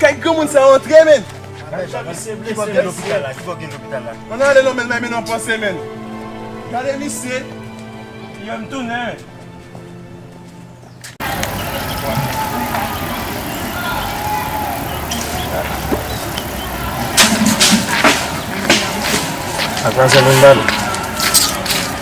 Kay granmoun sa antre menn. Ki bò gen lopital la? Ki bò gen lopital la? An ale non menn nan men nou an panse menn. Gade misye. Yo m tounen. Ak manzè menm bal.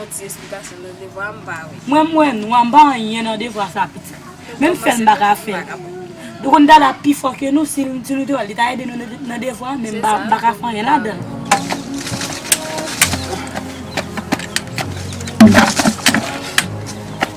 On ti esplikasyon nan devwa a m pa we. Mwen m wè nwa m pa anyen nan devwa sa pitit. Menm fèl m pa ka fèl. Ou konn Dada pi fò ke nou si nou te wèl li ta ede nou nan devwa an men m pa ka fè anyen ladan l.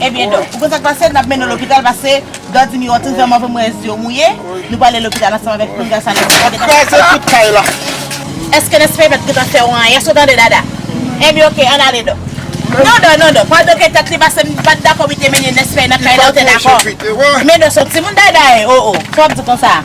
Ebyen donk, ou konn sa k pase, n ap mennen w lopital pase Don Dimi Ortiz la move mouez yo mouye, nou prale lopital ansanm avèk pinga sa nèg sa yo gentan fè an la. Èske nèg sa yo pat gentan fè w anyen? Èske w tande Dada? Ebyen oke, ann ale Don. Non Don, non Don, pa doke tèt li pase m pat dakò pou li te mennen Nèspèy nan kay la, ou te dakò? Men Don se yon timoun Dada e, o o, sa w ap di konsa a?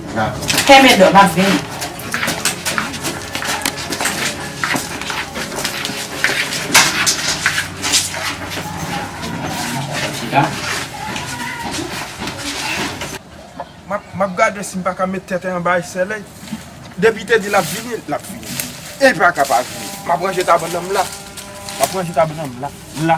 Fèmen dò, map vini. Map gade si m pa ka met tenten anba esèlèy. Depi te di lap vini, lap vini. Li pa ka pa vini. Map ranje tab nan m la. Map ranje tab nan m la. La.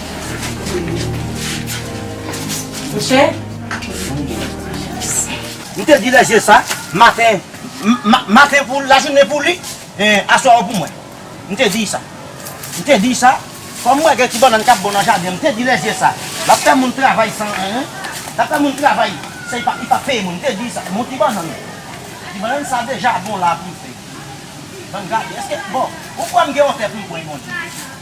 Mouche? M te di Lèje sa, maten, maten pou lajounen pou li, e aswè an pou mwen. M te di sa. M te di sa, kòm m wè gen ti bannann k ap bon nan jaden, m te di Lèje sa, l ap fè moun travay san anyen, l ap fè moun travay san li pa p peye moun. M te di sa. Bon ti bannann, ti bannann sa deja bon la pou l fè. Bann gade, èske, bon, ou kwè m gen yon tè pou m pran, Bondye?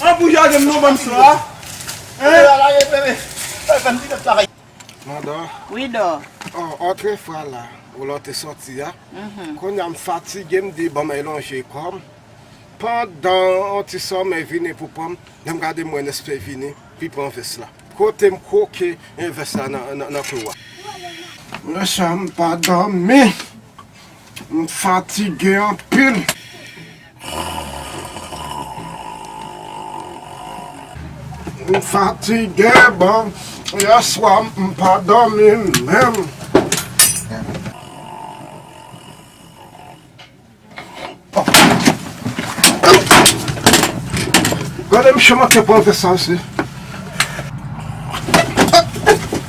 An pou jade m non banm swa hein. Manda Wi dò Oh otre fwa la ou la w te soti a Konya m fatige m di banm elonje kò m Pandan yon ti somèy vini pou pran m Lè m gade m wè Nespe vini Li pran vès la Kote m kwoke en vès la nan kou a Nan chanm m pa dòmi M fatige anpil. M fatige bon, yè swa m pa dòmi menm. Gade misye manke pran vè sa isi.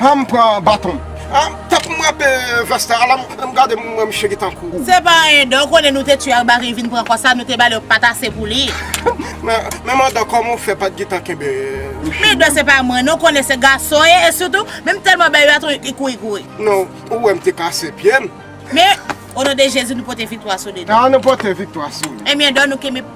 Humm pran baton. Humm tèt m rape vès la ala m gade m wè misye gen tankou. Se pa anyen dan ou konnen nou te tu Arbarie li vin pran kò sa nou te bali yon pat ase pou li. Men madan kòman ou fè pat gen tan kenbe misye. Men dan se pa mwen non ou konnen se gason ye e sitou men m tèlman bèy yo atou li kouri kouri. Non ou wè m te kase pye m. Men o non de Jezi nou pote viktwa sou li dan. An nou pote viktwa sou li. Ebyen dan nou kenbe.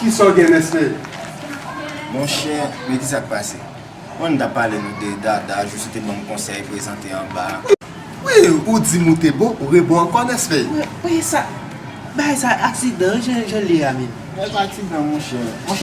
Kisa w gen Nesly? Monchè, men kisa k pase. Mwen m ta pale nou de Dada, jis ou te ban m konsèy prezante anba a. Wi, ou di m ou te bon, ou rebon ankò Nesly. Wi, sa, bagay sa aksidan wi jan l ye a menm. Bagay pa aksidan monchè.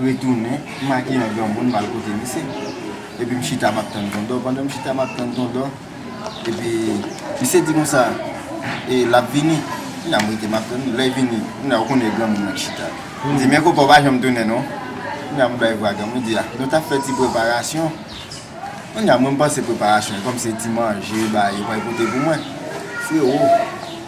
retounen, m makiye an granmoun m al kote misye epi m chita map tann Tondò, pandan m chita map tann Tondò epi misye di konsa e lap vini kounye a m rete map tann li, lè l vini kounye a ou konnen e granmoun nan ki chita li di men konpa ou pa janm tounen non kounye a m bay vwa granmoun li di a nou tap fè ti preparasyon kounye a mwen m panse preparasyon kòm se ti manje bay yo pral pote pou mwen frero.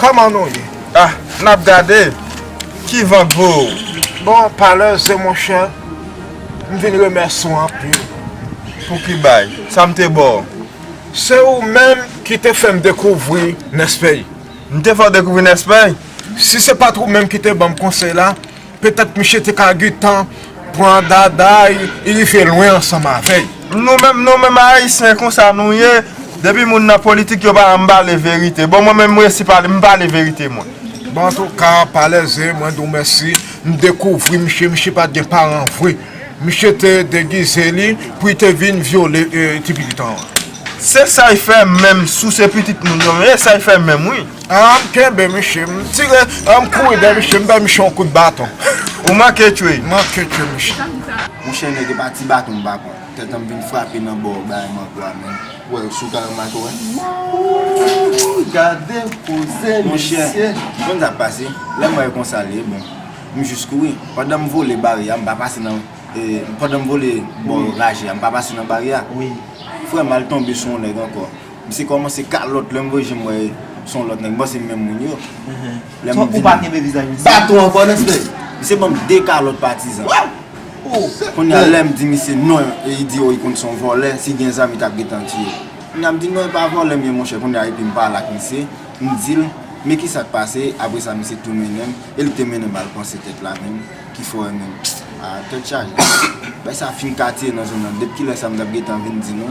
Koman nou ye? Ah nap gade ki van k vo ou. Bon pale ze monchè m vin remèsi w anpil. Pou ki bay? Sa m te ba w? Se ou menm ki te fè m dekouvri Nespey. M te fè w dekouvri Nespey? Si se pat ou menm ki te ban m konsèy la. Petèt miche te ka gentan pran Dada e rive lwen ansanm avè l. Nou menm nou menm ayisyen konsa nou ye depi moun nan politik yo pa janm pale verite bon mwen menm m resi pale m pale verite mwen. Bon antouka palèze mwen di w mèsi m dekouvri miche miche pat gen paran vre miche te degize li pou li te vin vyole ti pitit an. Se sa y fè menm sou se pitit moun yo menm e sa y fè menm wi. Ahh m kenbe misye m tire ahh m kouri dèyè misye m bay misye yon kout baton ou manke tchwey m manke tchwe misye. Monchè nèg epa ti baton m pa pran tèt an m vin frape nan bò bay mango a menm wè yo sou kay yo m manke wè ooh gade koze mesye. Monchè ou konn sak pase lèm wè konsa li e bon m jis kouri pandan m vole baryè a m pa pase nan pandan m vole bò raje a m pa pase nan baryè a frè m al tonbe sou yon nèg ankò. Misye komanse kalot lèm voye jem wè son lot nèg m panse menm moun yo lèm vin Ou pa kenbe vizaj misye Baton an bon respè Misye banm 2 kalot patizan Kounya lèm di misye non li di li konn son volè si gen zam li tap gentan tiyel Kounya m di non epa volè m ye monchè kounya epi m pale ak misye m dil men kisak pase apre sa misye tou mennenm e li te mennenm al panse tèt la menm ki fò e menm Ahh tèt chaje Bay sa fin katye nan zòn nan dep kilè sa m tap gentan vin di nou.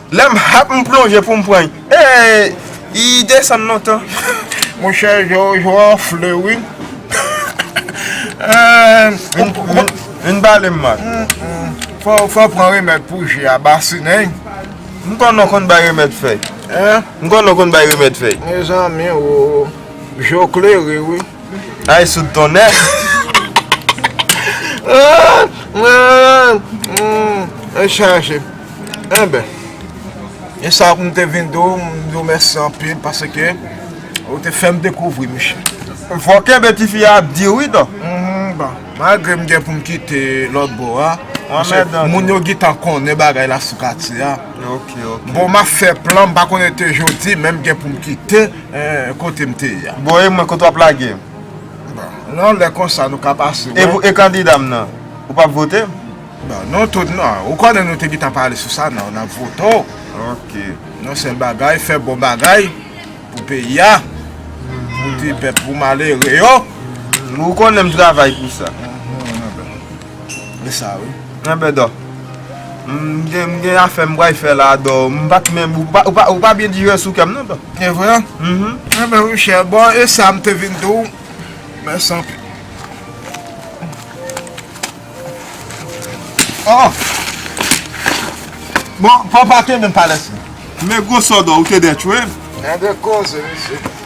Lè m hap m plonje pou m pran y ee y desann lontan. Monchè Jojo anfle wi eehh. Vin pale m man. Fò w pran remèd pou je a basinen y. M kwè w nan konn bay remèd fèy. Mezanmi oo, je w klere wi. Ay soud tonnè. Mwen chaje. Enben. E sa pou mwen te vin do, mwen do mèsi anpil pase ke ou te fèm dekouvri miche. Fò ke be ti fi a ap di wi to. Bon. Malgre mwen gen pou mwen kite lòt bo a. Moun yo gen tan konnen bagay la sou katye a. Bon map fè plan, mwen pa konnen te jodi men mwen gen pou mwen kite. Eeh kotem te ye a. Bon e mwen kote wap lage. Bon nan lè konsa nou ka pase wè. E kandidam nan ou pap vote. Bon nou tout nan ou konnen nou te gitan pale sou sa nan nap vote w. Ok. Yon sèl bagay fè bon bagay pou peyi a pou ti pèp pou malere yo. Ou konnen m travay pou sa. Li sa wi. Anben dò. M gen afè m bway fè la dò. M pat menm ou pa byen dire sou kèm non dò. E vre? Anben wi chè. Bon e sa m te vin di w. Mèsi anpil. Oh! Bon papa kenbe m pa lèse. Men gwo sò dò ou te dè tchwe m. Gen de koze mesye.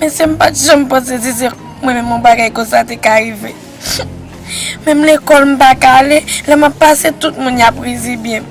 Mesye m pat janm panse si se mwen menm yon bagay konsa te ka rive. Menm lekòl m pa ka ale, lè m ap pase tout moun y ap rizibye m.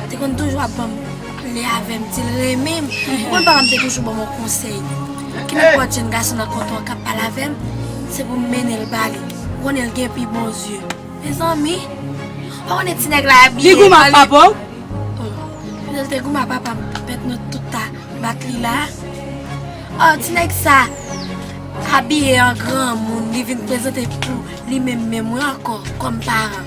Li te konn toujou ap banm pale avèm dil renmenm ou konn papam te toujou banm yon konsèy kinenpòt jèn gason nan konte an kap pale avèm se poum mennenl bali ou konnenl gen pi bon zye mezanmi ou pa konnen ti nèg la abiye li goumen ak papaw lèl te goumen ak papam pèt nou tout ta bat li la a ti nèg sa abiye an granmoun li vin prezante pou li menm menm mwen ankò kòm paran.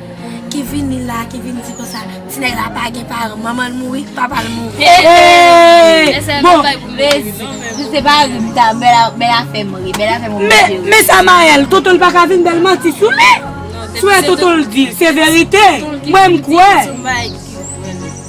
Ki vini la ki vin di konsa ti nèg la pa gen paran manmanl mouri papal mouri eehh bon mezi si se pa Rizita bèl afè mouri bèl afè mouri mesye wi men Samael tontonl paka vin bèl manti sou li sou e tontonl di se verite mwen m kwè.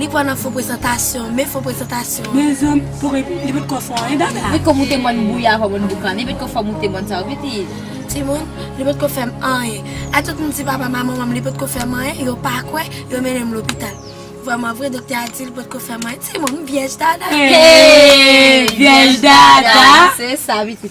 Li kwè nan fo prezantasyon, men fo prezantasyon. Men zanm pou ret li pot ko fon anyen dada. Li kòm ou te mòn bouya fòm moun boukan li pot ko fòm ou te mòn sa ou piti. Timoun, li pot ko fèm anyen. A tout moun di papam a manmanm li pot ko fèm anyen, yo pa kwè, yo mennenm lopital. Vrèman vre doktè a dil pot ko fèm anyen. Timoun, m vyèj dada. Hey! Vyèj dada! Se sa pitit.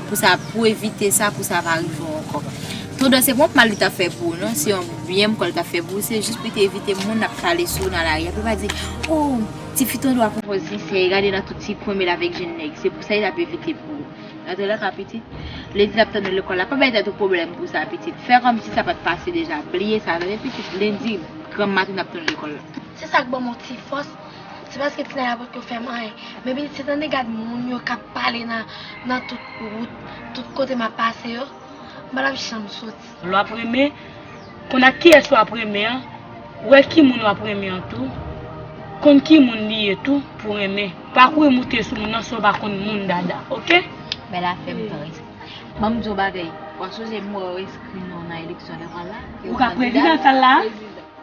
Pou sa pou evite sa pou sa pa rive w ankò. Tondans se pa yon mal li tap fè pou ou non, se yon byen m kwè li tap fè pou ou, se jis pou li te evite moun ap pale sou ou nan lari a pou yo pa di oh tifi tande w ak yon pòz sinsè gade nan tout ti kwen men l avèk jenn nèg se pou sa li tap evite pou ou. Rantre nan ka pitit, lè di lap tann ou lekòl la pa bay tèt ou pwoblèm pou sa pitit, fè kòmsi sa pat pase deja, bliye sa tande pitit, lendi granm maten nap tann ou lekòl la. Se sak banm yon ti fòs. Se paske ti nèg la potko fè m anyen. Men pitit tande gad moun yo k ap pale nan tout wout, tout kote m ap pase yo. M pa t ap janm soti. Lè w ap renmen, konn ak kiyès w ap renmen an, wè ki moun w ap renmen an tou, konn ki moun li ye tou pou renmen. Pa kouri moute sou moun nan si w pa konn moun dada ok. Bèl afè m pran risk. Ban m di w yon bagay, w ap sonje m wè w enskri non nan eleksyon lè pral la? Ou ka prezidan sa l la a?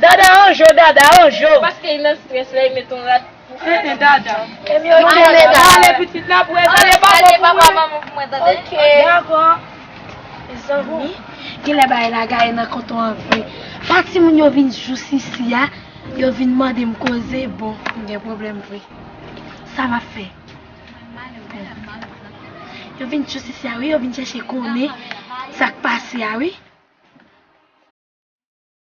Dada anjo dada anjo. Paske li nan stress lèl met on rad pou fè nan dada. Mwen ale pitit la pou e zale pa bon pou mwen tande. Dako. Mezanmi genlè bagay la gaye nan konton an vre. Pa timoun yo vin jou sisi a yo vin mandem koze bon m gen pwoblèm vre. Sa map fè. Yo vin jou sisi a wi yo vin chèche konnen sak pase a wi.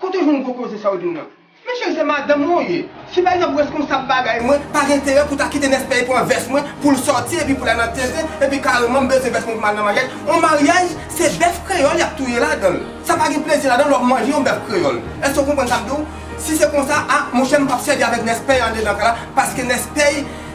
Kote w jwenn gwo koze sa w di m nan? Men cheri se madanm mwen w ye. Si pa egzanp reskonsab bagay mwen pa gen enterè pou ta kite Nèspèye pran vès mwen pou l sòti epi pou l al nan teren epi kareman m bezwen vès mwen pou m al nan maryaj. On maryaj se bèf kreyòl y ap touye ladan l. Sa pa gen plezi ladan l lè w manje yon bèf kreyòl. Èske w konprann sa m di w? Si se konsa a monchè m p ap sèvi avèk Nèspèye andedan kay la paske Nèspèye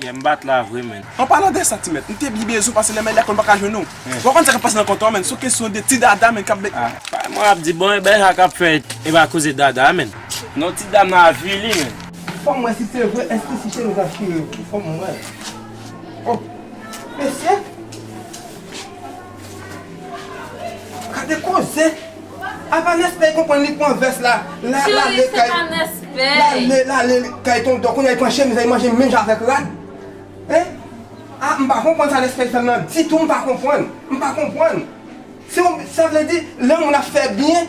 Yeah m bat la vre menn. An palan de sa ti mèt, m te byen bezwen pase lè men lè konn pa ka jwenn ou. W pa konn sa k ap pase nan kontan an menn, s on kesyon de ti dada menn k ap bay. Pay mwen ap di bon e Berha k ap fè e pa koze dada menn. Non ti dam nan avili menn. Fò m wè si se vre, èske ti cheri sa chire vre? Fò m wè. Oh! Mesye! Gade koze! Apa Nèspè konprann li pran vès la, lal ale kay lal ale kay tonton kounya li pran chemiz la li manje menm jan avèk rad? Hein! Ah m pa konprann sa Nèspè fè m nan ditou m pa konprann, m pa konprann! Se yon, sa vle di lè yon moun ap fè byen.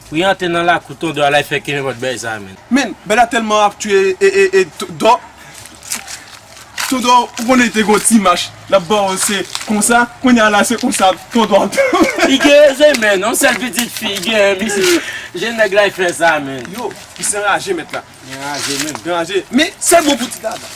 Priyan te nan lakou ton dò a la fè kenbe pot bèy sa menn. Menn bella telman ap tuye ee ton dò Ton dò ou konnen li te gon ti mach lap baw se konsa kounya la se konsa ton dò ap tou. Li gen zen menn, yon sèl pitit fi li genyen misye jen nèg la fè sa menn. Yo misye anraje mèt la. Li anraje menn. Li anraje men sèl bon pou ti dada.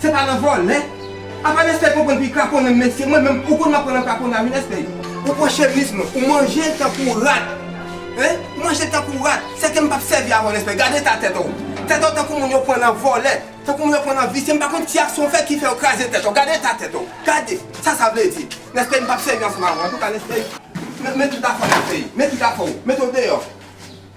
Se pa nan vòlè. Apa nèg fèy konprann pi kraponnen mesye mwen menm ou konn m aprann an kraponnen a wi nèg fèy. Ou pran chevism ou manje l tankou rat hein ou manje l tankou rat se ke m pap sèvi avè w nèg fèy gad eta tèt w tèt w tankou moun yo pran nan vòlè tankou moun yo pran nan visye m pa konn ti aksyon w fè ki fè w kraze tèt w gad eta tèt w gad sa sa vle di nèg fèy m pap sèvi ansanm avè w antouka nèg fèy men tout afè w nèg fèy men tout afè w mete w deyò.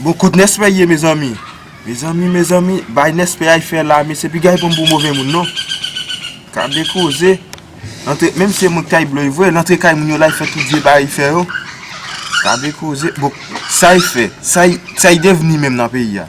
Bon kot nèspè ye mezanmi. Mezanmi mezanmi bay nèspè a fè la mesye piga yo pranm pou move moun non gade koze antre menm si se moun ki ta yi bloy vre antre kay moun yo la yi fè tout vye bagay yi fè yo gade koze bon sa yi fè sa yi devni menm nan peyi a.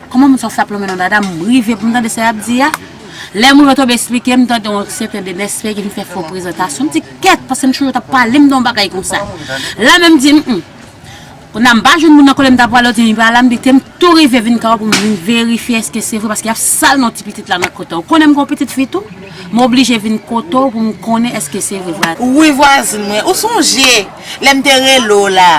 Kòman moun sa yo fè ap lonmen nan dada m rive pou m tande sa y ap di a Lè moun yo te esplike m tande yon sèten Denespè ki vin fè fo prezantasyon m di kèt paske m toujou t ap pale m de yon bagay konsa La menm di m m Konnya m pa jwenn moun nan kote m ta pwale yo di m li pa la m di te m tou rive vin kay ou pou m vin verifye èske se vre paske y ap sal non ti pitit la nan kote ou konnen m gen yon pitit fi tou m oblije vin kote w pou m konnen èske se vre Wi vwazin mwen ou sonje lè m te rele w la.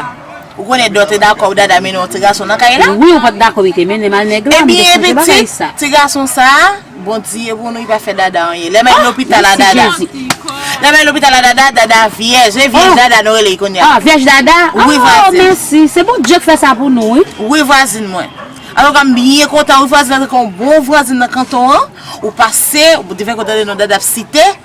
Ou konnen dò te dakò Dada mennen yon ti gason nan kay la? Wi ou pat dakò li te mennem al nèg la, m te chanje bagay sa. Ti gason sa a, Bondye pou nou li pa fè Dada anyen. Lè m al lopital a Dada. Lè m al lopital a Dada, Dada vyèj. Se vyèj Dada nou rele li kounye a. Vyèj Dada? Wi vwazin. Oh mèsi, se Bondye k fè sa pou nou wi. Wi vwazin mwen. Antoka m byen kontan wi vwazin antanke yon bon vwazin nan kanton an, ou pase, ou te fè m kontan de non Dada ap site.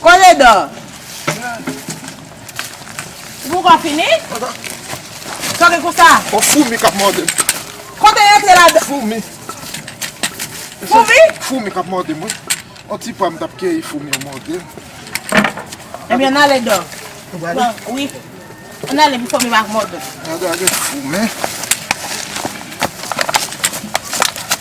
Koledò! Ou poukò fini? Ata. Sa gen konsa? Yon foumi kap mòde m. Kote yon antre ladan? Foumi. Foumi? Foumi kap mòde m wi. Yon ti pwa m tap keyi foumi yo mòde m. Ebyen an ale dò. Ou pral ale? Wi. An ale pou foumi pa mòde m. Gade a gen foumi.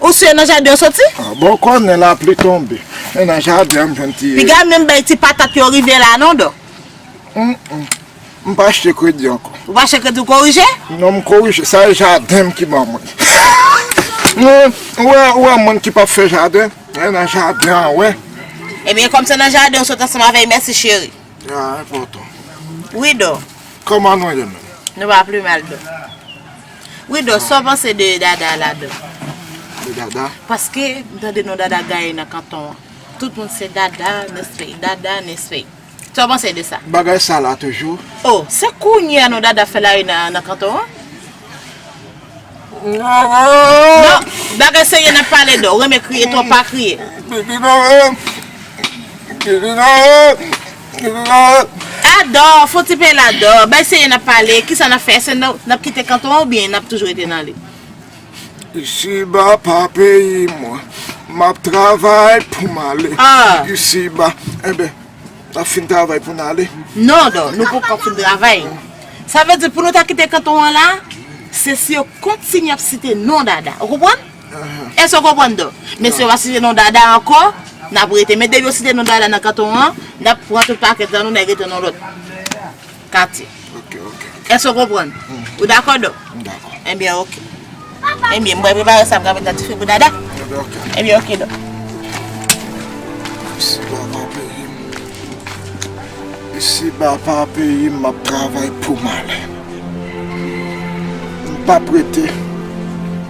Ou si e nan jaden yo soti? Ah bon konnen la pli tonbe. E nan jaden an m jwenn ti. Piga menm bay ti patat yo rive la non do. Humm m pa achte kredi anko. Ou pa achte kredi ou korije? Non m korije sa e jaden m ki ban mwen. Humm ou wè moun ki pap fè jaden e nan jaden an wè. Ebyen kom se nan jaden ou sot ansanm avey merci cheri. Ah enpotan. Wi do. Koman nou ye menm? Nou pa pli mal do. Widoo sa w panse de Dada la dan? De Dada? Paske m tande non Dada gaye nan kanton an. Tout moun se Dada, Nesfèy, Dada, Nesfèy. Sa w panse de sa? Bagay sa la toujou? Oh, se kounye a non Dada fè lari nan kanton an? Non, bagay serye n ap pale de w. Renmen kriye, e to w pa kriye. Pipi nan ren m! Pipi nan ren m! A dò, fon ti pale a dò. Bay seye n ap pale. Kisa n ap fè? Èske n ap kite kanton an oubyen n ap toujou rete nan li? Isiba pa peyi mwen. M ap travay pou m ale isiba. Enben, n ap fin travay pou n ale? Non, dò, nou poko fin travay. Sa vle di pou nou ta kite kanton an la, se si yo kontinye ap site non Dada. Ou konprann? Èske w konprann do? Men si yo pa site non Dada ankò, n ap rete. Men depi yo site non Dada nan kanton an, n ap pran tout pakèt lan nou, n al rete nan lòt katye. Èske w konprann? Ou dakò do? M dakò. Enben oke. Enben, m pral prepare sa m ka met nan dife pou Dada. Enben oke. Enben oke do. Isiba pa peyi m. Isiba pa peyi m, m ap travay pou m ale. M p ap rete.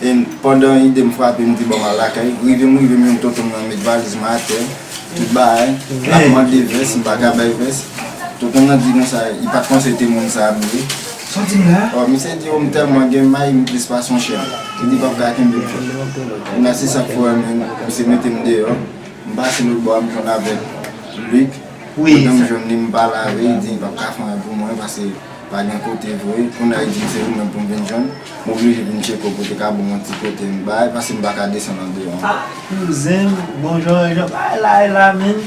And pandan idem frape m di banm al lakay Rive m rive m jwenn tonton m nan met valiz mwen atè tout bagay lap mande vès m paka bay vès tonton m nan di konsa li pat panse te moun sa ap vle oh misye di oh m tèlman gen may m plis pase yon chen li di pap ka kenbe m kounya se sak fè misye mete m deyò m pase lòt bò a m jwenn avèk Luc kote m jwenn li m pale avè li di li pap ka fè anyen pou mwen paske pa gen kote vre kounya li di m se ou menm pou m vin jwenn. M oblije pou m tcheke w pou w te ka ban m yon ti kote m bay pase m pa ka desann andeyo ankò. Ah kouzen m bon jan an jan bagay la ye la menn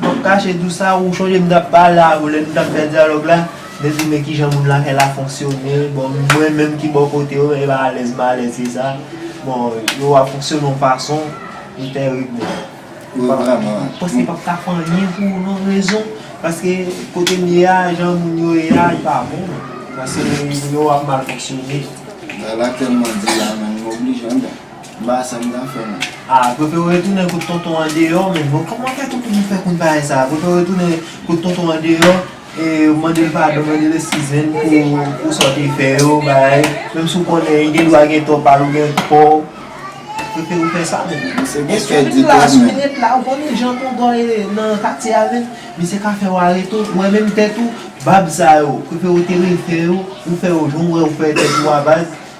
m ap kache di w sa ou chonje m t ap pale a ou lè nou t ap fè dyalòg la mwen di w men kijan moun la fè la fonksyone bon mwen menm ki bò kote yo e alèz malèz se sa bon yo a fonksyone yon fason li tèrib menn. M panse pap ka fè anyen pou ou non rezon paske kote m ye a jan moun yo ye a li pa bon paske moun yo ap mal fonksyone. Bagay la telman di la menm m oblije anmweyy m pa sa m ka fè non. A prefere w retounen kot tonton andeyò menm non kòman kèt ou pou fè konn bagay sa prefere w retounen kot tonton andeyò. Ou mandel padon, mandel eskiz menn pou sa ou te fè yo bagay, menm si ou konnen li gen dwa gen tò pal ou gen tò ou, prefere ou fè sa menn. Mesye gen kè di tou menn. Si ou ret la, ou konnen jan tonton ye nan katye a menn, misye ka fè ou arete ou, ou wè menm tèt ou, bab sa yo, prefere ou te refè yo, ou fè yo jan ou wè ou fè tèt ou a baz,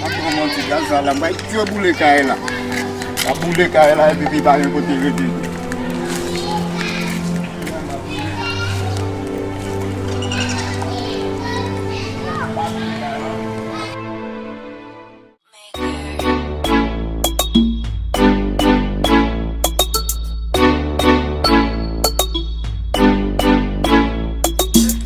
Map pran yon ti gaz la m bay dye boule kay la map boule kay la epi pi pa gen kote rete tou.